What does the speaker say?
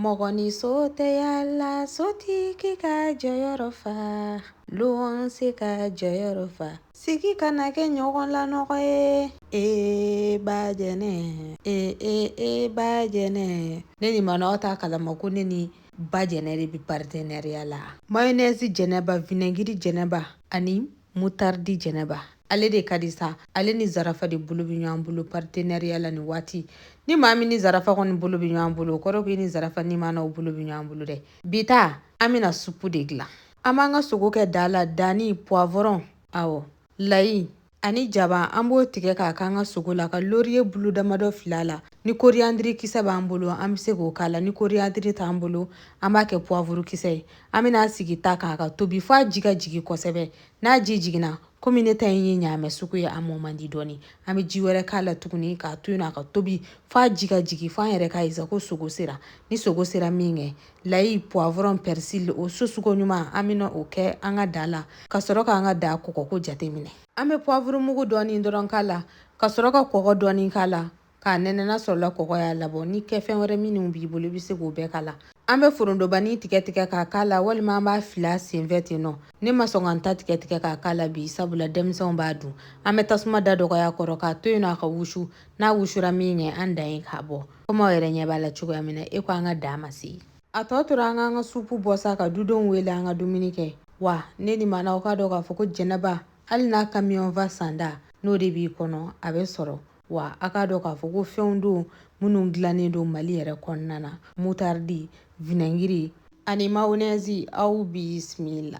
Mɔgɔ ni so tɛ yaala sotigi k'a jɔyɔrɔ fa. Luwanse k'a jɔyɔrɔ fa. Sigi kana kɛ ɲɔgɔn lanɔgɔ ye ee ba jɛnɛ ee ee e ba jɛnɛ ne ni maanaw t'a kalama ko ne ni ba jɛnɛ de bɛ partenariat la mayonɛzi jɛnɛba vinɛngiri jɛnɛba ani Mutardi Jɛnɛba ale de ka di sa ale ni zarafa de bolo bɛ ɲɔgɔn bolo partenariat la nin waati ni maa min ni zarafa kɔni bolo bɛ ɲɔgɔn bolo o kɔrɔ ko i ni zarafa ni maanaw bolo bɛ ɲɔgɔn bolo dɛ bi ta an bɛna supu de dilan an b'an ka sogo kɛ da la dani poivron awɔ layi ani jaba an b'o tigɛ k'a k'an ka sogo la ka loriye bulu damadɔ fil'a la ni koriyandiri kisɛ b'an bolo an bɛ se k'o k'a la ni koriyandiri t'an bolo an b'a kɛ poivuru kisɛ ye an bɛn'a sigi ta kan a ka tobi fo a ji ka jigin kosɛbɛ n'a ji jiginna komi ne ta in ye ɲaamɛ sogo ye a mɔ man di dɔɔni an bɛ ji wɛrɛ k'a la tuguni k'a to yen a ka tobi fo a ji ka jigin fo an yɛrɛ k'a ye sa ko sogo sera ni sogo sera min kɛ layi poivron persil o susuko ɲuman an bɛna o kɛ an ka da la ka sɔrɔ k'an ka da kɔgɔko jateminɛ an bɛ poivuru mugu dɔɔni dɔrɔn k'a la ka sɔrɔ ka kɔgɔ dɔɔni k'a la k'a nɛnɛ n'a sɔrɔla kɔgɔ y'a labɔ ni kɛfɛn wɛrɛ minnu b'i bolo i bɛ se k'o bɛɛ k'a la an bɛ forontobanin tigɛ tigɛ k'a k'a la walima an b'a fili a senfɛ ten nɔ ne ma sɔn ka n ta tigɛ tigɛ k'a k'a la bi sabula denmisɛnw b'a dun an bɛ tasuma da dɔgɔya kɔrɔ k'a to yen nɔ a ka wusu n'a wusura min kɛ an dan ye k'a bɔ komi aw yɛrɛ ɲɛ b'a la cogoya min na e ko an ka dan ma se yen a tɔ tora an k'an ka supu bɔ sa ka dudenw wele an ka dumuni kɛ wa ne ni maanaw k'a dɔn k'a fɔ ko jɛnɛba hali n'a kamiyɔnfa sanda n'o de b'i kɔnɔ a bɛ sɔrɔ wa a k'a dɔn k'a fɔ ko fɛnw don minnu dilannen don mali yɛrɛ kɔnɔna na mutaridi vinɛngiri ani mayonɛzi aw bisimila